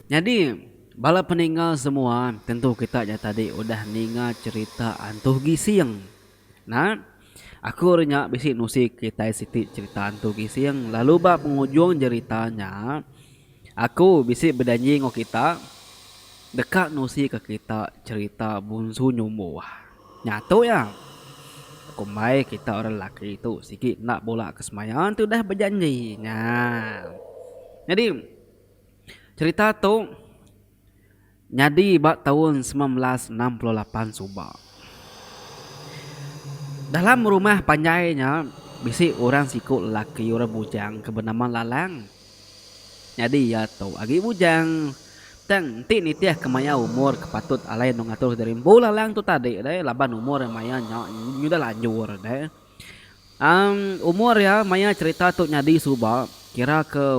Nyadi, bala peninga semua tentu kita nya tadi udah ninga cherita Antu Gising. Nah, aku ari nya bisi nusi kitai siti cherita Antu Gising lalu ba pengujung cherita nya, Aku bisi bejanji enggau kita deka nusika kita cherita Bunsu Nyumbu Wah. Nya tu iya. Kumbai kita orang lelaki tu sigi enda bula ke semaya tudah bejanji nya. Nyadi cherita tu. Nyadi ba taun semilan belas enam puluh lapan suba, dalam rumah panjai nya bisi orang siku lelaki orang bujang ke benama Lalang. Nyadi iya tu agi bujang tang enti nitihka maya umur ke patut alai endur ngatur diri empu Lalang tu tadi deh laban umur iya maya nya udah lanjur deh. Umur iya maya cherita tu nyadi suba kira ke.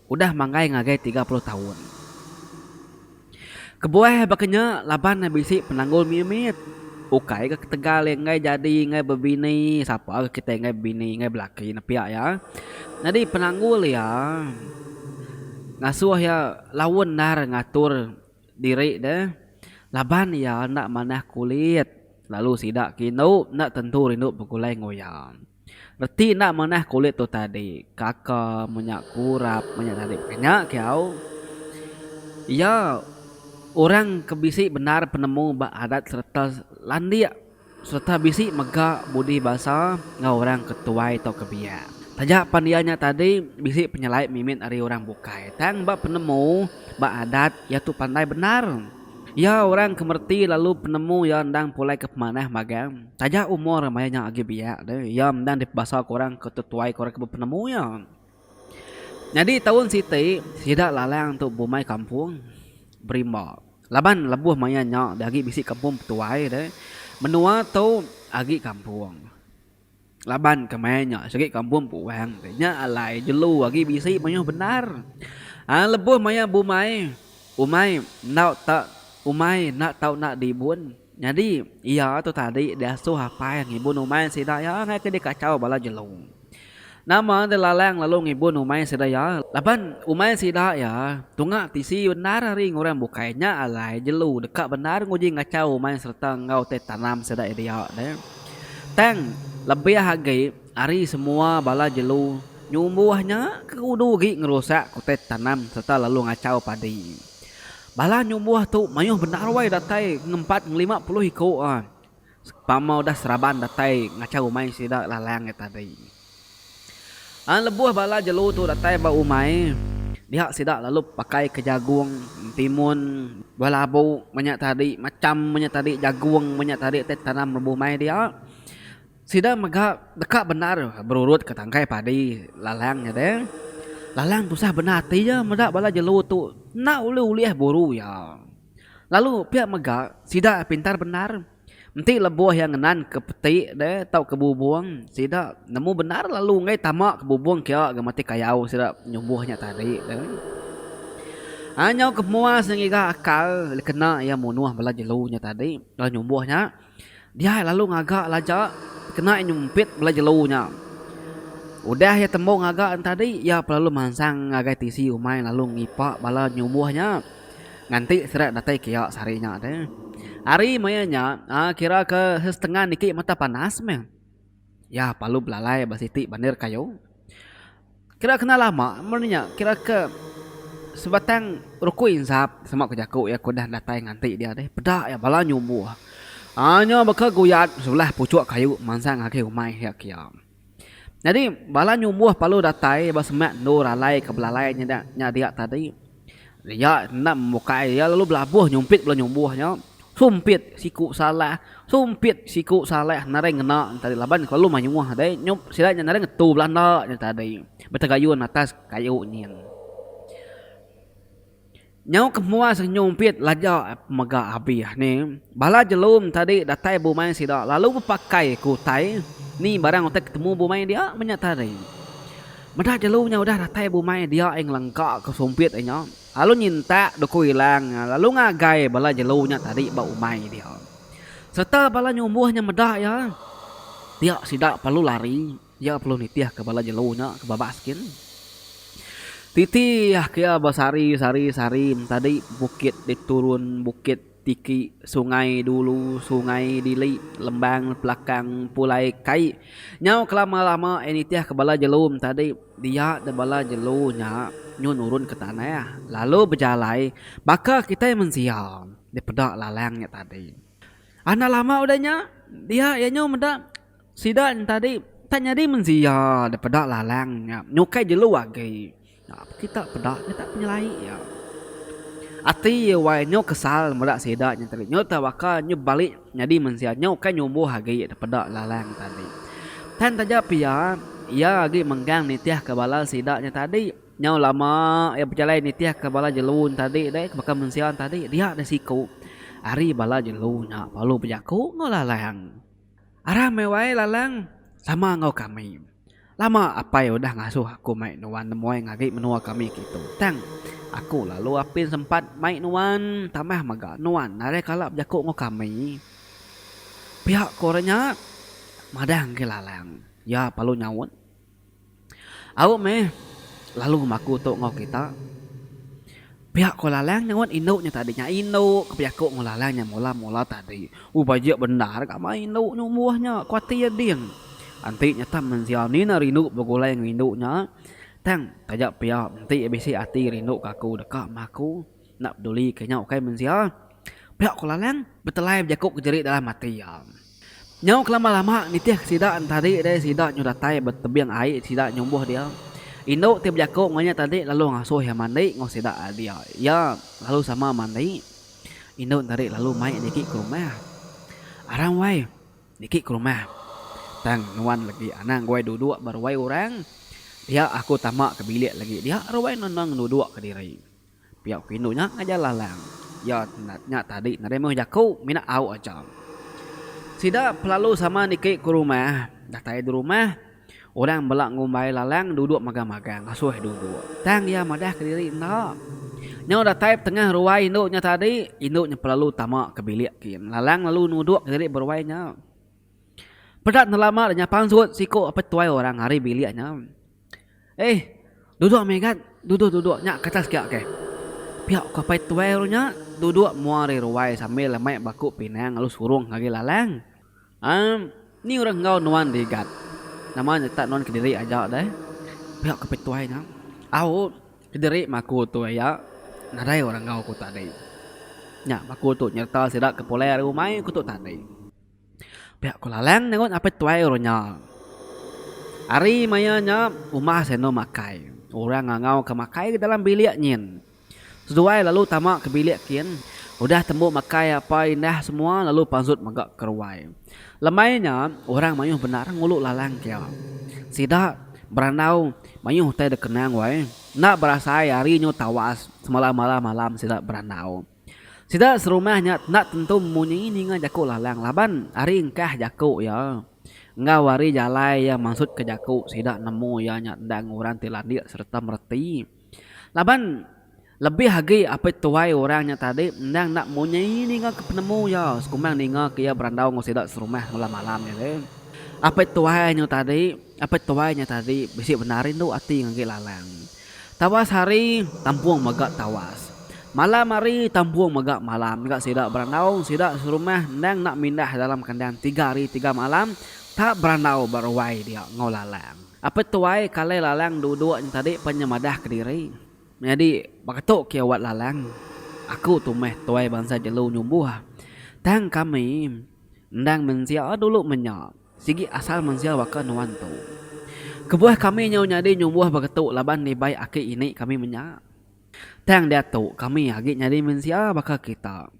Udah manggai ngagai tiga puluh taun. Kebuah baka nya laban ne bisi penanggul mit-mit. Ukai ke ketegal iya enggai jadi enggai bebini, sapa ke kitai enggai bebini enggai belaki nepiak iya. Nyadi penanggul iya ngasuh iya lawu endar ngatur diri ne laban iya enda manah kulit lalu sida ke indu enda tentu rindu begulai enggau iya. Reti enda manah kulit tu tadi. Kaka menya kurap menya tadi kenya kiau. Iya orang ke bisi bendar penemu ba adat sereta landik sereta bisi mega budi basa enggau orang ke tuai tauka biak. Taja pan iya nya tadi bisi penyelai mimit ari orang bukai tang ba penemu ba adat iya tu pandai bendar. Iya orang ke mereti lalu penemu iya endang pulai ke pemanah magang. Taja umur maya nya agi biak tu, iya endang dipebasa ke orang ke tetuai ke orang ke bepenemu iya. Nyadi taun siti, sida Lalang tu bumai kampung Berimba. Laban lebuh maya nya da agi bisi kampung Petuai tu, menua tu agi kampung. Laban ke maya nya sigi kampung Puang tu nya alai jelu agi bisi mayuh bendar. Aa lebuh maya bumai, umai enggau tak umai enda tau enda dibun. Nyadi, iya tu tadi diasuh apai ngibun umai sida iya ngagai ke dikachau bala jelu. Nama enti Lalang lalu ngibun umai sida iya laban umai sida iya tunga tisi bendar ari ngurang bukai nya alai jelu deka bendar nguji ngachau umai sereta enggau utai tanam sida iya dia ne. Tang lebih agi ari semua bala jelu nyumbuh nya ke udu agi ngerusak utai tanam sereta lalu ngachau padi. Bala nyumbuh tu mayuh bendar wai datai ngempat ngelima puluh iku a pama udah seraban datai ngacha umai sida lalang nya tadi. An lebuh bala jelu tu datai ba umai dia sida lalu pakai ke jagung timun buah labu menya tadi macham menya tadi jagung menya tadi ti tanam lebuh mai dia. Sida mega deka bendar berurutka tangkai padi Lalang nya deh. Lalang tusah bendar ati iya meda bala jelu tu enda ulih ulih buru iya. Lalu pia mega sida pintar bendar. Enti lebuh iya ngenanka peti deh tauka bubung sida nemu bendar lalu enggai tama ke bubung kia ga matik kayau sida nyumbuh nya tadi deh. Anyau ke mua sengiga akal dikena iya munuh bala jelu nya tadi lalu nyumbuh nya. Diai lalu ngaga laja kena iya nyumpit bala jelu nya. Udah iya tembu ngaga nya tadi iya pelalu mansang ngagai tisi umai lalu ngipa bala nyubuh nya nganti sida datai ke iya sehari nya deh. Hari maya nya kira ke setengah niki mata panas meh. Iya palu belalai ba siti bandar kayu. Kira kena lama meri nya kira ke sebatang rukui ensap sama ku jaku iya ke udah datai nganti dia deh peda iya bala nyumbuh. Aaa nya baka guyat sebelah puchuk kayu mansang agi umai iya ke iya. Nyadi bala nyumbuh palu datai ba semak endur alai ke belalai nyida nya dia tadi Nya enda memukai iya lalu belabuh nyumpit bala nyumbuh nya. Sumpit siku salah, sumpit siku salah narai ngena nya tadi laban kelalu mayuh deh nyump sida nya narai ngetu belanda nya tadi betegayun atas kayu nyin. Nyau ke muas nyumpit laja mega abih ne bala jelum tadi datai bumai sida lalu bepakai ke utai ni barang utai ke temu bumai dia meh nya tadi. Meda jelu nya udah datai bumai dia ai ngelengkaka sumpit nya lalu nyintak duku ilang nya lalu ngagai bala jelu nya tadi ba umai dia. Sereta bala nyumbuh nya meda iya dia sida perlu lari iya perlu nitihka bala jelu nya ke babas gin. Titihka iya besari sari sari tadi bukit diturun bukit. Tiki, Sungai Dulu, Sungai Dili, Lembang, Pelakang, Pulai Kai. Nyau kelama-lama iya nitih ke bala jelu entadi dia deh bala jelu nya nyu nurun ke tanah lalu bejalai baka kitai mensia dipeda lalang nya tadi. Anak lama udah nya dia iya nyu meda. Sida entadi tak nyadi mensia da peda lalang nya nyukai jelu agi. Nyap kita peda nya tak penyelai iya. Ati iya wai nyau kesal meda sida nya tadi. Nyau tebaka nyau balik nyadi mensia nyau ukai nyumbuh agi da peda lalang tadi. Tang taja pia iya agi menggang nitihka bala sida nya tadi. Nyau lama iya bejalai nitihka bala jelu entadi deh baka mensia entadi dia deh siku ari bala jelu nya lalu bejaku enggau lalang. Arang meh wai Lalang sama enggau kami. Lama apai udah ngasuh aku mai nuan nemuai ngagai menua kami kitu. Tang aku lalu apin sempat mai nuan tambah mega nuan nadai kala bejaku enggau kami. Pia ku orang nya madah ngagai Lalang. Iya palu nyaut. Au meh lalu bemaku tu enggau kita. Pia ko Lalang nyaunt indu nya tadi nya indu ke bejaku enggau Lalang nya mula-mula tadi. U bajik bendar gambar indu nya umboh nya ku ati iya ding. Enti nyetang mensia ni enda rindu begulai enggau indu nya tang taja pia enti bisi ati rindu ke aku deka meh aku. Enda peduli ke nyau ukai mensia, pia ko Lalang betelai bejaku ke jerit dalam ati iya. Nyau ke lama-lama nitihka sida entadi deh sida nyu datai ba tebing ai sida nyumbuh dia. Indu ti bejaku enggau nya tadi lalu ngasuh iya mandi enggau sida ari dia. Iya lalu sama mandi. Indu tadi lalu mai niki ke rumah. Arang wai, niki ke rumah. Tang nuan legi anang guai duduk ba ruai orang. Dia aku tama ke bilik legi dia ruai nuan nuan ngeduduka diri. Pia ku indu nya ngajar Lalang. Iya nya tadi nadai meh jaku mina au aja. Sida pelalu sama niki ku rumah. Datai di rumah, orang bela ngumbai Lalang duduk magang-magang ngasuh duduk. Tang iya madah ke diri enda. Nyau datai betengah ruai indu nya tadi, indu nya pelalu tama ke bilik kin. Lalang lalu nuduk ke diri ba ruai nya. Peda enda lama deh nya pansut siku apai tuai orang ari bilik nya. Eh, duduk Megat, duduk duduk nya ke atas kiak keh. Pia ku apai tuai ru nya duduk mua ari ruai sambil mai baku pinang lalu surung ngagai lalang. Emm, ni orang enggau nuan dih Gat. Nama nya tak nuan kediri aja deh? Pia ku apai tuai nya. Au, kediri mah aku tu aya, nadai orang enggau ku tadi. Nya baku tu nyereta sida ke pulai ari umai ku tu tadi. Pia ko Lalang nerun apai tuai ru nya. Ari maya nya umah seh endo makai. Orang ngangau ka makai ke dalam bilik nyin. Seduai lalu tama ke bilik kin udah tembu makai apai indah semua lalu pansut mega ke ruai. Lemai nya orang mayuh bendar ngulu Lalang kia. Sida berandau mayuh utai dikenang wai. Enda berasai ari nyu tawas semalam malam malam sida berandau. Sida serumah nya enda tentu munyi ninga jaku Lalang laban ari engkah jaku iya enggau ari jalai iya mansutka jaku sida nemu iya nya enda ngurang ti landik sereta mereti. Laban lebih agi apit tuai orang nya tadi endang enda munyi ninga ke penemu iya sekumbang ninga ke iya berandau enggau sida serumah bala malam nya deh. Apit tuai nya tadi apit tuai nya tadi bisi bendar rindu ati ngagai Lalang. Tawas hari, tampung mega tawas. Malam hari, tampung mega malam ngaga sida berandau. Sida serumah endang enda mindah dalam kandang tiga hari tiga malam tap berandau ba ruai dia enggau Lalang. Apit tuai kalai Lalang duduk nya tadi pan nya madah kediri. Menyadi baka tu ke awat Lalang, Aku tu meh tuai bansa jelu nyumbuh. Tang kami endang mensia dulu menya. Sigi asal mensia baka nuan tu. Kebuah kami nyau nyadi nyumbuh begetu laban dibai aki ini kami menya. Tang diatu kami agi nyadi mensia baka kita.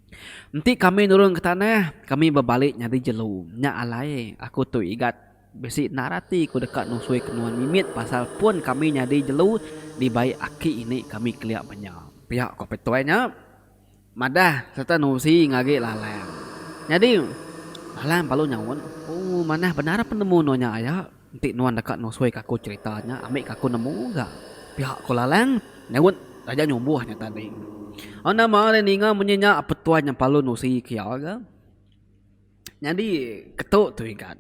Enti kami nurun ke tanah, kami bebali nyadi jelu. Nya alai, aku tu Igat bisi endar ati ku deka nusui ke nuan mimit pasal pun kami nyadi jelu dibai aki ini kami kelia menya. Pia ku Petuai nya. Madah sereta nusi ngagi lalang. Nyadi, lalang palu nyaut, Oh, manah bendar penemu nuan nya aya. Enti nuan deka nusuika aku cherita nya, ambika aku nemu ga. Pia ko lalang nyaut taja nyumbuh nya tadi. Anang Mah ari ninga munyi nya, Petuai nya palu nusi ke iya ga. Nyadi ketu tu igan.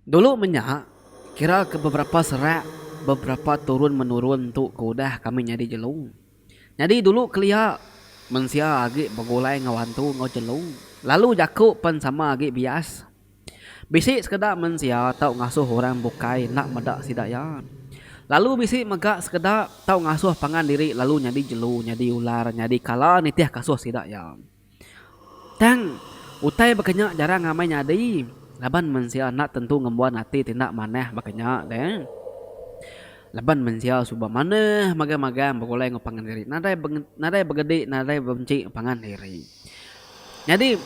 Dulu menya, kira ke beberapa serak beberapa turun menurun tu ke udah kami nyadi jelu. Nyadi dulu kelia mensia agi begulai enggau hantu enggau jelu lalu jaku pen sama agi bias. Bisi sekeda mensia tau ngasuh orang bukai enda meda sida iya. Lalu bisi mega sekeda tau ngasuh pangan diri lalu nyadi jelu, nyadi ular, nyadi kala nitih kasuh sida iya. Tang, utai baka nya jarang amai nyadi laban mensia enda tentu ngembuan ati ti enda manah baka nya deh. Laban mensia suba manah magang-magang begulai enggau pangan diri, nadai nadai begedi nadai bementi pangan diri. Nyadi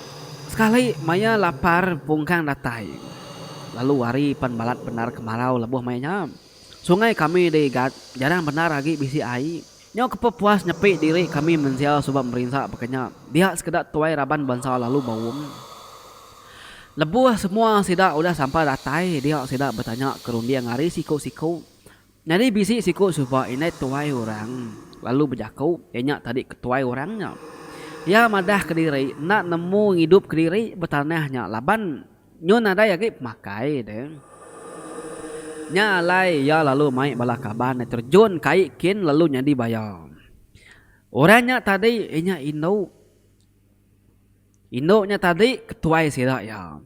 sekali maya lapar pungkang datai lalu hari pan balat bendar kemarau lebuh maya nya. Sungai kami di Igat jarang bendar agi bisi ai. Nyau kepepuas nyepi diri kami mensia suba merinsa baka nya, dia sekeda tuai raban bansa lalu baum. Lebuh semua sida udah sampai datai dia sida betanya ke runding ari siku-siku. Nyadi bisi siku suba indai tuai orang lalu bejaku iya nya tadi ke tuai orang nya. Iya madah kediri enda nemu ngidup kediri betanah nya laban Nyu nadai agi pemakai deh. Nya alai iya lalu mai bala kaban deh terjun kai kin lalu nyadi baya. Orang nya tadi inya indu. Indu nya tadi ke tuai sida iya.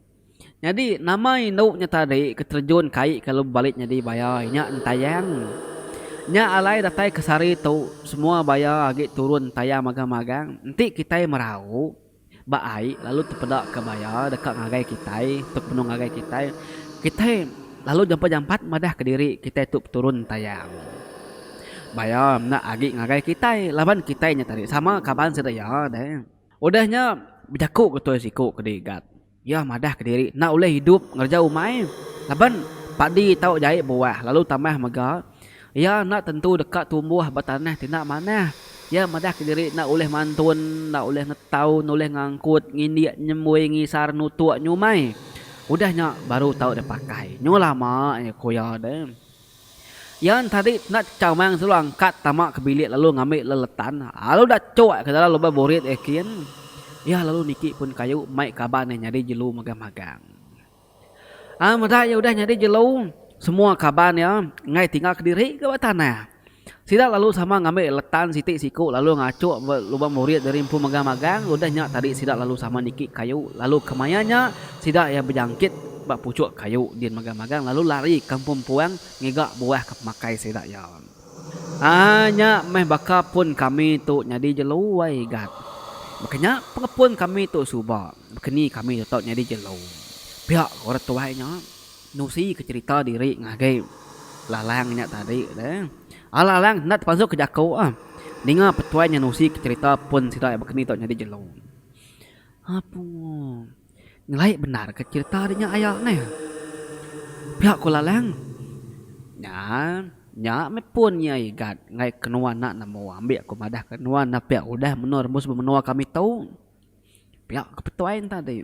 Nyadi nama indu nya tadi ke terjun kai ke lalu balik nyadi baya inya Entayang. Nya alai datai ke sehari tu semua baya agi turun Entayang magang-magang enti kitai merau. Ba ai lalu tepeda ka baya deka ngagai kitai tu kenu ngagai kitai. Kitai lalu jampat jampat madah ka diri kitai tu peturun tayang. Baya enda agi ngagai kitai laban kitai nya tadi sama kaban sida iya deh. Udah nya bejaku ka tuai siku ke digat. Iya madah ke diri enda ulih idup ngereja umai laban padi tau jai buah lalu tambah mega iya enda tentu deka tumbuh ba tanah ti enda manah. Iya madah ke diri enda ulih mantun, enda ulih ngetau, enda ulih ngangkut, ngindik, nyembui, ngisar, nutuk, nyumai. Udah nya baru tau dipakai. Nyuh lama aja ku iya deh. Iya entadi nat Chamang selalu angkat tama ke bilik lalu ngambi leletan lalu da cuk ke dalam lubang burit iya kin. Iya lalu niki pun kayu mai kaban iya nyadi jelu magang magang. Ai meda iya udah nyadi jelu semua kaban iya enggai tinggal kediri ke ba tanah. Sida lalu sama ngambi letan siti siku lalu ngachuk ba lubang murid diri empu magang-magang, udah nya tadi sida lalu sama niki kayu, lalu kemaya nya sida iya bejangkit ba puchuk kayu din magang-magang lalu lari ka empu empuang ngiga buah ka pemakai sida iya. Haa nya meh baka pun kami tu nyadi jelu ai gat. Baka nya pengepun kami tu suba, baka ni kami tetap nyadi jelu, pia ku orang tuai nya. Nusi ke cerita diri ngagai Lalang nya tadi le. Ai Lalang enda tepazuk ke jaku ah. Ninga petuai nya nusi ke cerita pun sida ai bakani tu nyadi jelu. Apu. Nyelai bendar ke cerita nya aya neh. Pia ku Lalang. Nya nya meh pun iya igat ngagai ke nuan enda nemu ambi ku madah ke nuan enda pia udah menua rembus menua kami tu. Pia ku petuai ne tadi.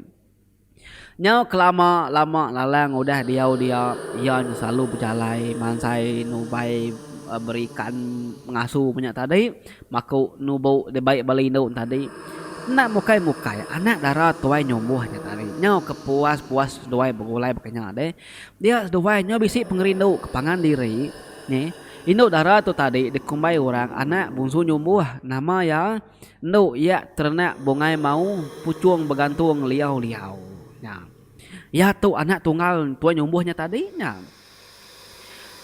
Nyau kelama lama Lalang udah diau dia, iya nya selalu bejalai mansai nubai berikan ngasu inya nya tadi maku nubu dibai ba lindu nya tadi enda mukai mukai anak dara tuai nyumbuh nya tadi nyau ke puas puas seduai begulai baka nya deh dia seduai nya bisi pengerindu ke pangan diri neh indu dara tu tadi dikumbai orang anak bungsu nyumbuh nama iya. Endu iya terenak bungai mau puchung begantung liau-liau nya. Iya tu anak tunggal Tuai Nyumbuh nya tadi nya.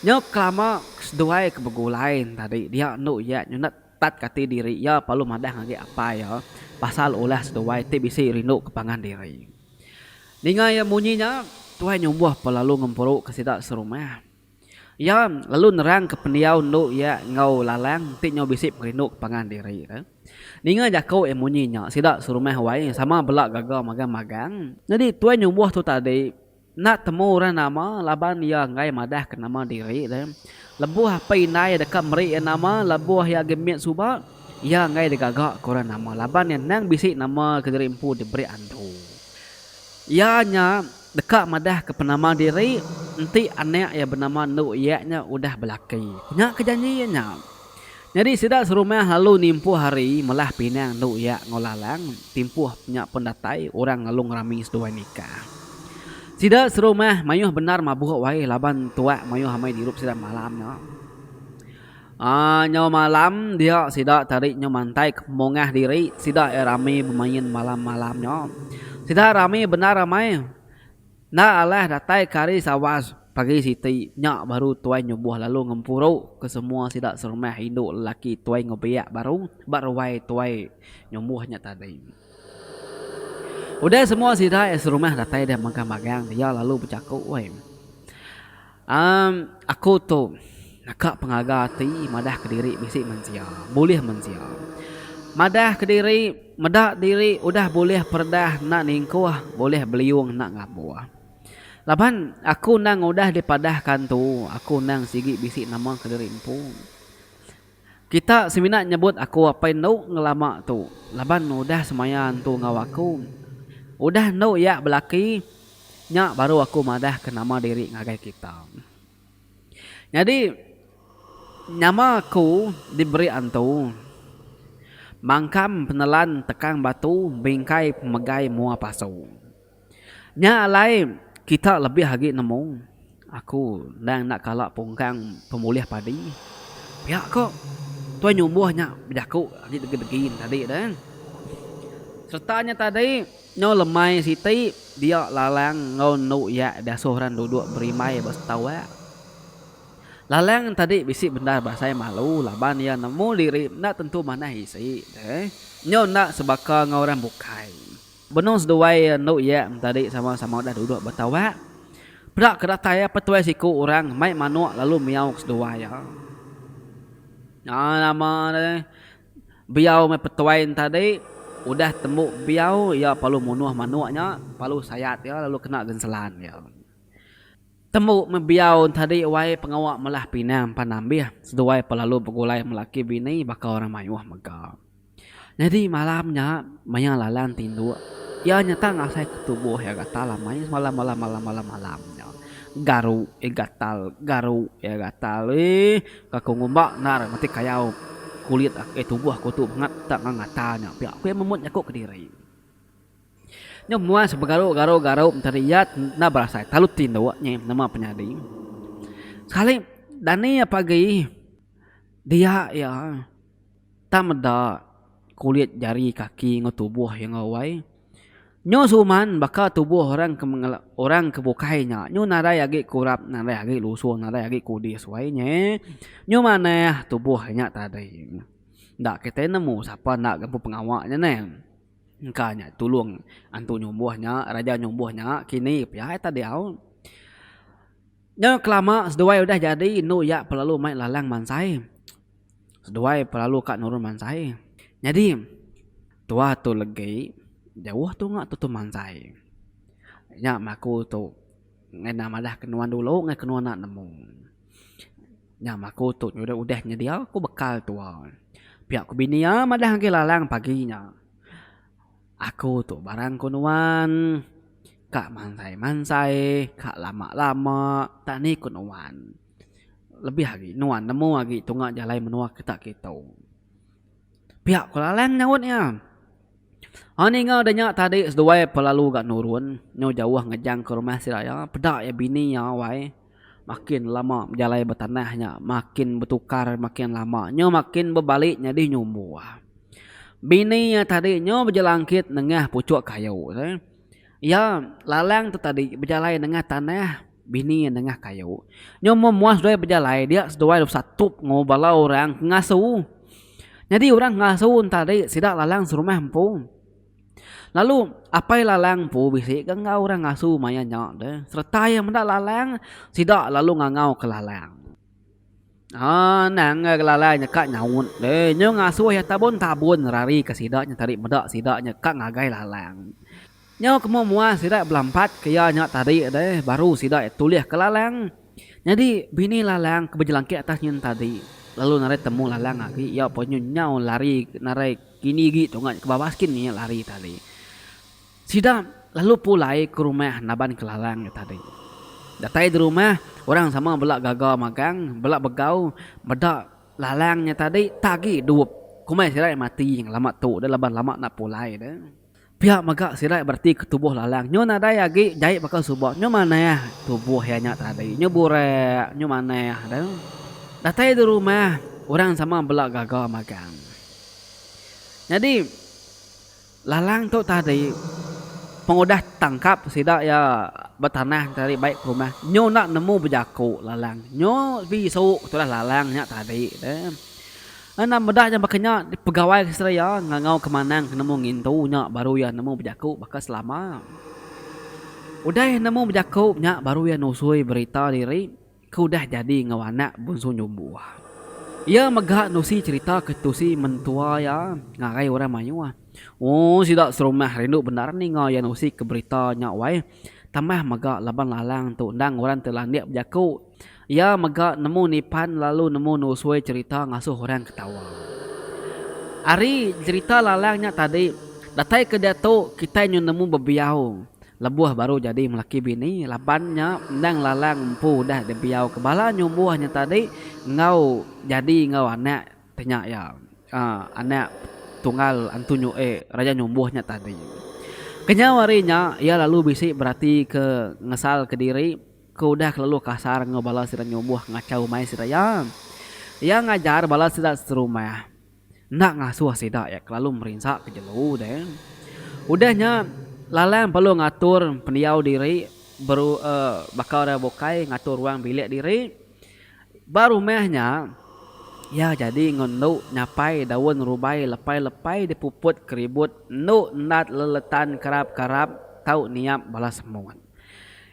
Nya kelama seduai ke begulai ne tadi dia endu iya nyunat tat ke ati diri iya palu madah ngagai apai iya pasal ulah seduai ti bisi rindu ke pangan diri. Ninga iya munyi nya Tuai Nyumbuh pun lalu ngemperu ke sida serumah. Iya lalu nerangka pendiau endu iya enggau Lalang enti nyau bisi perindu ke pangan diri. Ninga jaku iya munyi nya, sida serumah awai sama bela gaga magang magang. Nyadi tuai nyumbuh tu tadi enda temu orang nama laban iya enggai madahka nama diri. Lebuh apai indai deka meri iya nama lebuh iya agi mit suba, iya enggai digaga ke orang nama laban iya endang bisi nama kediri empu diberi andu. Iya nya. Deka madahka penama diri enti anak iya benama endu iya nya udah belaki. Nya ke janji iya nya. Nyadi sida serumah lalu nimpuh ari melah pinang endu iya enggau Lalang, timpuh nya pun datai orang lalu ngerami seduai nikah. Sida serumah mayuh bendar mabuk wai laban tuak mayuh amai dirup sida malam nya. Nyau malam dia sida tadi nyau mantaik mungah diri sida iya rami bemain malam malam nya. Sida rami bendar amai enda alah datai ke hari sawas pagi siti nya baru tuai nyubuh lalu ngempuru ke semua sida serumah indu lelaki tuai ngebiak baru ba ruai tuai nyubuh nya tadi. Udah semua sida iya serumah datai deh magang magang dia lalu bejaku weh. Am, aku tu naka pengaga ati madah kediri bisi mensia, bulih mensia. Madah kediri, meda diri udah bulih peredah enda ningkuh, bulih beliung enda ngabuh. Laban aku endang udah dipadahka entu, aku endang sigi bisi nama kediri empu. Kita semina nyebut aku apai endo ngelama tu laban udah semaya entu enggau aku. Udah endo iya belaki nya baru aku madah ke nama diri ngagai kita. Nyadi nyama aku diberi entu mangkam penelan tekang batu bingkai pemegai mua pasu. Nya alai kita lebih agi nemu aku endang enda kala pungkang pemulih padi. Pia ko tuai nyumbuh nya bejaku agi degi-degi ne tadi tu eh. Sereta nya tadi nyau lemai siti dia lalang enggau enu iya diasuh orang duduk berimbai ba setawa. Lalang nya tadi bisi bendar berasai malu laban iya nemu diri enda tentu manah isi ne nyau enda sebaka enggau orang bukai. Benung seduai endu iya entadi sama-sama udah duduk ba tawak. Peda ke datai iya petuai siku orang mai manuk lalu miau ke seduai iya. Nya nama deh. Biau meh petuai entadi udah tembu biau iya palu munuh manuk nya, palu sayat iya lalu kena genselan iya. Tembu meh biau entadi wai pengawa melah pinang pan ambih seduai pelalu begulai melaki bini baka orang mayuh mega. Nyadi malam nya maya Lalan tinduk, iya nyata ngasai ke tubuh iya gatal amai semalam malam malam malam malam nya. Garu iya gatal, garu iya gatal eeh ka ku ngumba endar mati kayau kulit ake tubuh aku tu bangat tak ngau ngata nya pia ku iya memut jaku kediri. Nya muai sebegaru garu garu tadi iya enda berasai telalu tinduk nya nama penyadi. Sekali dani pagi dia iya. Tang meda kulit jari kaki enggau tubuh iya enggau wai. Nyu suman baka tubuh orang ke mengela orang ke bukai nya. Nyu nadai agi kurap, nadai agi lusu, nadai agi kudis wai nya. Nyu manah tubuh nya tadi. Enda kitai nemu sapa enda ke empu pengawa nya neh. Engka nya tulung antu nyumbuh nya, raja nyumbuh nya kini pia iya tadi au. Nya kelama seduai udah jadi enu iya pelalu mai lalang mansai. seduai pelalu ka nurun mansai. Nyadi tua tu legi jauh tu nga tutu mansai. Nya maku tu ngena madah ke nuan dulu ngai ke nuan enda nemu. Nya maku tu nyudah udah nyedia ku bekal tua. Pia ku bini iya madah agi lalang pagi nya. Aku tu barang ku nuan ka mansai-mansai ka lama-lama tak ni ku nuan. Lebih agi nuan nemu agi tunga jalai menua kita ke tu. Pia ku Lalang nyaut iya. Aaa ninga da nya tadi seduai pelalu ga nurun nyau jauh ngejang ke rumah sida iya peda iya bini iya wai makin lama bejalai ba tanah nya makin betukar makin lama nyau makin bebali nyadi nyumbu. Bini iya tadi nyau bejelangkit nengah puchok kayu. Iya, lalang tu tadi bejalai nengah tanah bini nengah kayu. Nyau mun muah seduai bejalai dia seduai dulu besatup enggau bala orang ke ngasu. Nyadi orang ke ngasu tadi sida lalang serumah empu. Lalu apai lalang empu bisi ke enggau orang ngasu maya nya deh sereta iya meda lalang sida lalu ngangau ke lalang. Haa endang enggau ke lalai nya ka nyaut deh nyu ngasuh iya tabun-tabun nerari ke sida nya tadi meda sida nya ka ngagai lalang. Nyau ke moh muah sida belampat ke iya nya tadi deh baru sida iya tulih ke lalang. Nyadi bini lalang ke bejelangkik atas nyin tadi lalu narai temu lalang agi iya pun nyu nyau lari narai kini agi tunga nya ke babas kin nya lari tadi. Sida lalu pulai ke rumah Naban Kelalang nya tadi. Datai di rumah, orang sama bela gaga magang, bela begau, meda Lalang nya tadi tagi dup. Komai sida mati ngelama tu deh laban lama enda pulai deh. Pia mega sida bereti ke tubuh Lalang nyu nadai agi jai baka suba, nyu manah tubuh iya nya tadi, nyu burak, nyu manah deh. Datai di rumah, orang sama bela gaga magang. Nyadi. Lalang tu tadi pengudah tangkap sida iya betanah enti ari baik ke rumah nyu enda nemu bejaku lalang nyu bisu tulah lalang nya tadi te enda meda nya baka nya pegawai ke sida iya ngangau ke manang ke nemu ngintu nya baru iya nemu bejaku baka selama udah iya nemu bejaku nya baru iya nusui berita diri. Ke udah jadi enggau anak bunsu nyumbuh. Iya mega nusi cherita ke tusi mentua iya ngagai orang mayuh. Ooh sida serumah rindu bendar ninga iya nusi ke berita nya wai. Tambah mega laban Lalang tu endang orang ti landik bejaku. Iya mega nemu nipan lalu nemu nusui cherita ngasuh orang ketawa. Ari cherita Lalang nya tadi, datai ke diatu kitai nyu nemu bebiau Lebuh baru jadi melaki bini, laban nya endang lalang empu udah dibiauka bala nyumbuh nya tadi enggau jadi enggau anak ti nya iya, anak tunggal Antu Nyue, raja nyumbuh nya tadi. Kenyau ari nya, iya lalu bisi beratika ngesalka diri ke udah kelalu kasar enggau bala sida nyumbuh ngachau umai sida iya. Iya ngajar bala sida serumah. enda ngasuh sida iya kelalu merinsa ke jelu deh. Udah nya, Lalang perlu ngatur pendiau diri beru baka orang bukai ngatur ruang bilik diri. Ba rumah nya, iya jadi enggau endu nyapai daun rubai lepai-lepai dipuput ke ribut endu endat leletan karap-karap tau niap bala semut.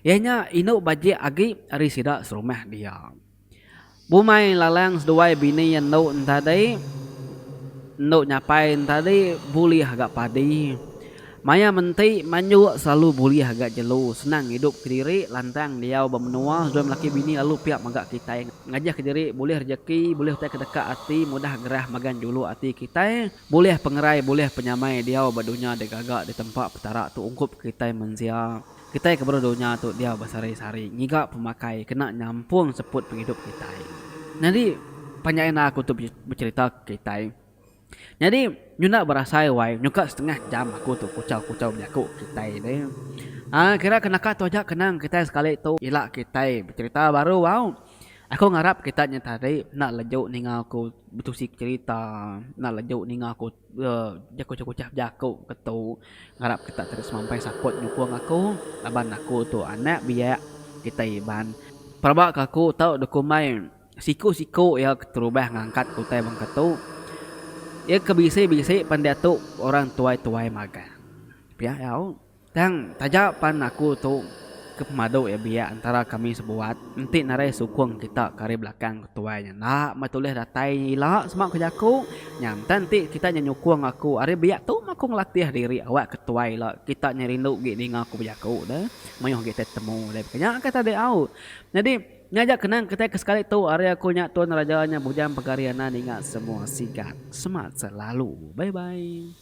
Iya nya indu bajik agi ari sida serumah dia. Bumai lalang seduai bini iya endu entadi endu nyapai entadi bulih ga padi. Maya menti manjok selalu bulih ga jelu senang ngidup kediri lantang diau ba menua seduai melaki bini lalu pia mega kitai ngajah kediri bulih rejeki bulih utai ke deka ati mudah gerah magang juluk ati kitai bulih pengerai bulih penyamai diau ba dunya digaga ditempa Petara tu ungkup kitai mensia. Kitai ke baru dunya tu dia besehari-sehari ngiga pemakai kena nyampung seput pengidup kitai. Nyadi panjai enda aku tu becherita ke kitai. Nyadi nyunda berasai wai nyuka setengah jam aku tu kuchau-kuchau bejaku ke kitai deh. Aa kira ke naka tu aja kenang kitai sekali tu ila kitai becherita baru au. Aku ngarap kitai nya tadi enda leju ninga aku betusi becherita, enda leju ninga aku Jaku-jaku chah bejaku ke tu ngarap kita ti semampai support nyukung aku laban aku tu anak biak kitai Iban. Pelaba ke aku tau dokumai siku-siku iya keterubah ngangkat ke utai bangka tu. Iya ke bisi-bisi pan diatu orang tuai-tuai magang. Pia au. Tang, taja pan aku tu ke pemadu iya biak entara kami sebuat, enti narai sukung kita ke ari belakang ke tuai nya enda meh tulih datai nya ila sema ku jaku nya enta enti kita nya nyukung aku ari biak tu meh aku ngelatih diri awak ke tuai ila kita nya rindu agi ninga ku bejaku de mayuh agi tai betemu de ke nya ke tadi au nyadi nya aja kenang kitai ke sekali tu ari aku nya tuan raja nya bujang pegari ana ninga semua sigat semat selalu bye bye.